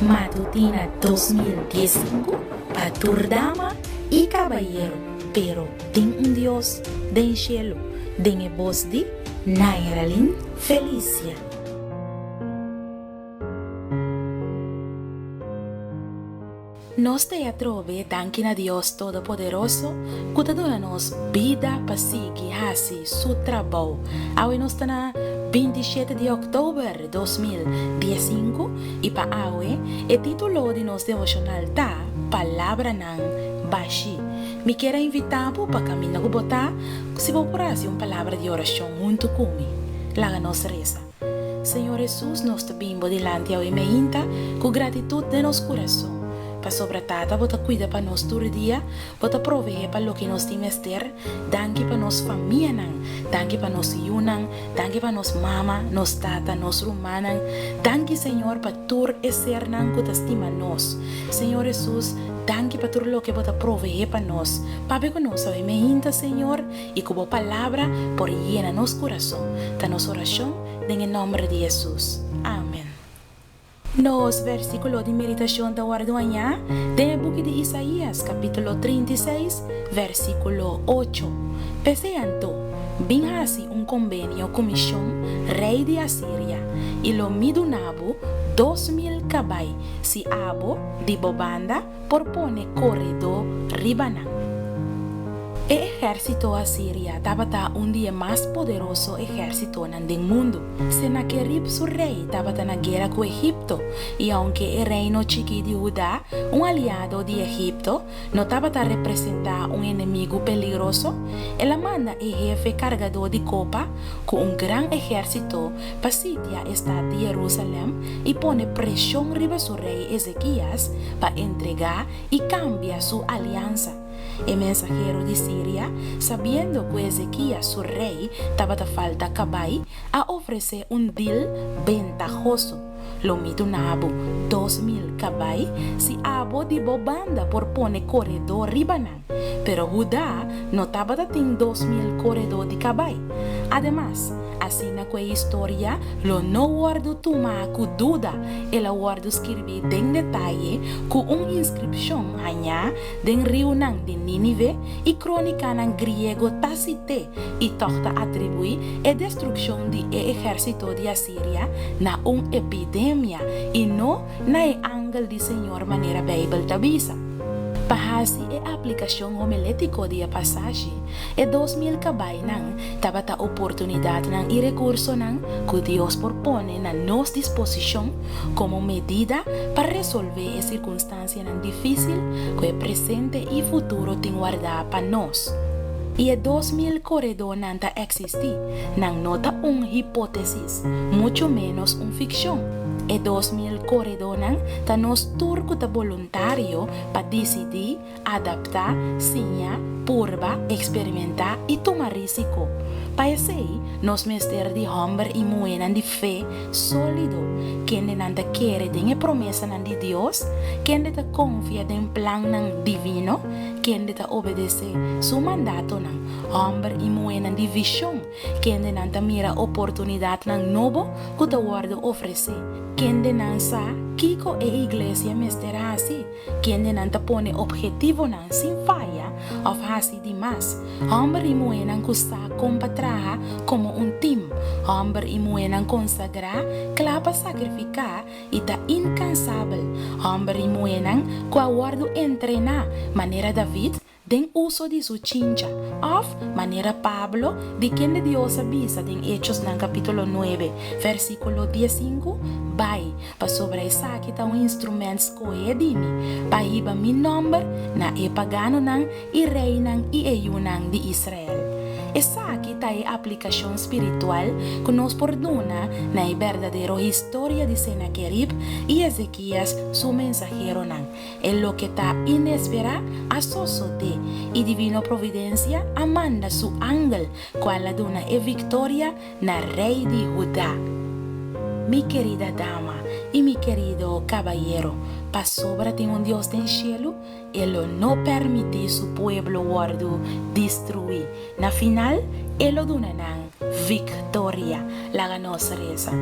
Matutina dos mil dies i sinku pa tur dama i kabayeru pero tin un Dios den shelu den e bos di Nairalyn Felicia. Nos ta e atrobe danki na Dios Todopoderoso ku ta duna nos bida pa sigui hasi su trabou. Awe nos ta na binti shete di oktober dos mil dies i sinku i pa awe e titulo di nos devoshonal ta Palabranan Bashi. Mi kier a invitá bo pa kaminda ku bo ta si bo por hasi un palabra di orashon huntu ku mi. Laga nos resa. Señor Hesus nos ta bin bo dilanti awe meinta cu gratitut den nos curason, pasobra Tata bo ta cuida pa nos tur dia, bo ta proveé pa loke nos tin mester, danki pa nos famianan, danki pa nos yunan, danki pa nos mama, nos tata, nos rumannan, danki Señor pa tur e sernan cu ta stima nos, Señor Hesus, danki pa tur loke bo ta proveé pa nos, papia cu nos awe meinta Señor, y cu bo palabra por yena nos curason, ta nos oracion den e nomber di Jesus. Amen. Nos versiculo di meditacion ta wordo haña den e buki di Isaías, capitulo trinta i seis, versiculo ocho. P'esei anto, bin haci un conbenio cu mision, rey di Asiria, y lo mi duna bo dos mil cabai, si abo, di bo banda, por pone koredó riba nan. E ehèrsito Asiria tabata un di e mas poderoso ehèrsitonan den mundu. Senakerib su rei tabata na guera ku Egipto, i aunke e reino chikí di Hudá, un aliado di Egipto, no tabata representá un enemigu peligroso, el a manda e hefe kargadó di kopa ku un gran ehèrsito pa sitia e stat di Jerusalèm i pone preshon riba su rei Ezekias pa entregá i kambia su aliansa. E mensahero di Siria, sabiendo ku Ezekias su rei tabata falta kabai, a ofresé un dil bentahoso, Lo mi duna bo dos mil kabai si abo di bo banda por pone koredó riba nan. Pero Hudá no tabata tin dos mil koredó di kabai. Ademas, asina ku e historia lo no wòrdu tuma ku duda el a wòrdu skirbí den detaye ku un inskripshon hañá den riunan di Nínive i krónikanan griego Tásite i tòg ta atribuí e destrukshon di e ehérsito di Asiria na un epidemia i no na e angel di Señor manera Beibel ta bisa. Pa hasi e aplikashon homilétiko di e pasashi, e dos mil kabainan tabata oportunidatnan i rekursonan ku Dios por pone na nos disposishon komo medida pa resolvé e sirkunstansianan difísil ku e presente i futuro tin wardá pa nos. I e dos mil koredónan ta eksistí, nan no ta un hipótesis. mucho ménos un fikshon. E dos mil koredónan ta nos tur ku ta boluntario pa disidí, adaptá, siña, purba, eksperimentá i tuma rísiko. Pa esei, nos mester di hòmber i muhénan di fe sólido, kende nan ta kere den e promesanan di Dios, kende ta konfia den plannan divino, kende ta obedesé Su mandatonan, hòmber i muhénan di vishon Kendenan ta mira oportunidatnan nobo ku ta wòrdu ofresé? Kendenan sa kiko e iglesia mester hasi? Kendenan ta pone obhetivonan sin faya òf hasi di mas? Hòmber i muhénan ku sa kon pa traha komo un tim, hòmber i muhénan konsagrá, kla pa sakrifiká i ta inkansabel, hòmber i muhénan ku a wòrdu entrená manera David, den uso di su chincha, òf, manera Pablo, di kende Dios a bisa den Hechosnan kapítulo nuebe, vèrsikulo diesinku, bai, pasobra esaki ta un instrumènt skohé di mi, pa hiba mi nòmber na e paganonan i reinan i e yunan di Israel. Esaki ta e aplikashon spiritual ku nos por duna na e berdadero historia di Senakerib i Ezekias su mensaheronan, E loke ta inesperá a sosodé i Divino Providensia a manda su angel ku a la duna e viktoria na Rei di Hudá. Mi kerida dama i mi kerido kabayero, pasobra tin un Dios den shelu, e lo no pèrmití su pueblo wòrdu destruí. Na final, E lo duna nan victoria. Laga nos reza.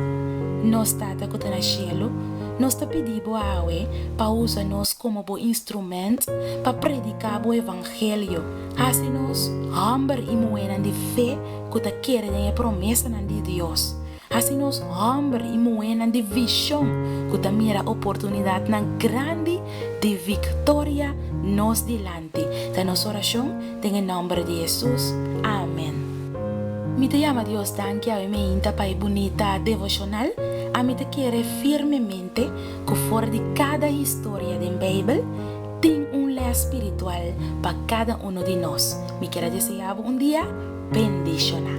Nos Tata cu ta na Cielo, nos ta pidi Bo awe pa usa nos como Bo instrument pa predica Bo evangelio. Haci nos homber y muhernan di fe cu ta kere den e promesanan di Dios. Hasi nos hòmber i muhénan di vishon ku ta mira oportunidatnan grandi di viktoria nos dilanti. Ta nos orashon, den e nòmber di Hesus, amèn. Mi ta yama Dios danki awe meinta pa e bunita devoshonal. Ami ta kere firmemente ku for di kada historia den Beibel, tin un lès spiritual pa kada unu di nos. Mi kier a deseá bo un dia. bendishoná.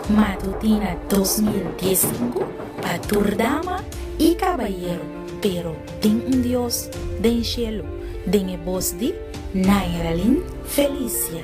Matutina dos mil dies sinku pa tur dama i kabayeru pero tin un Dios den shelu den e bos di Nairalyn Felicia.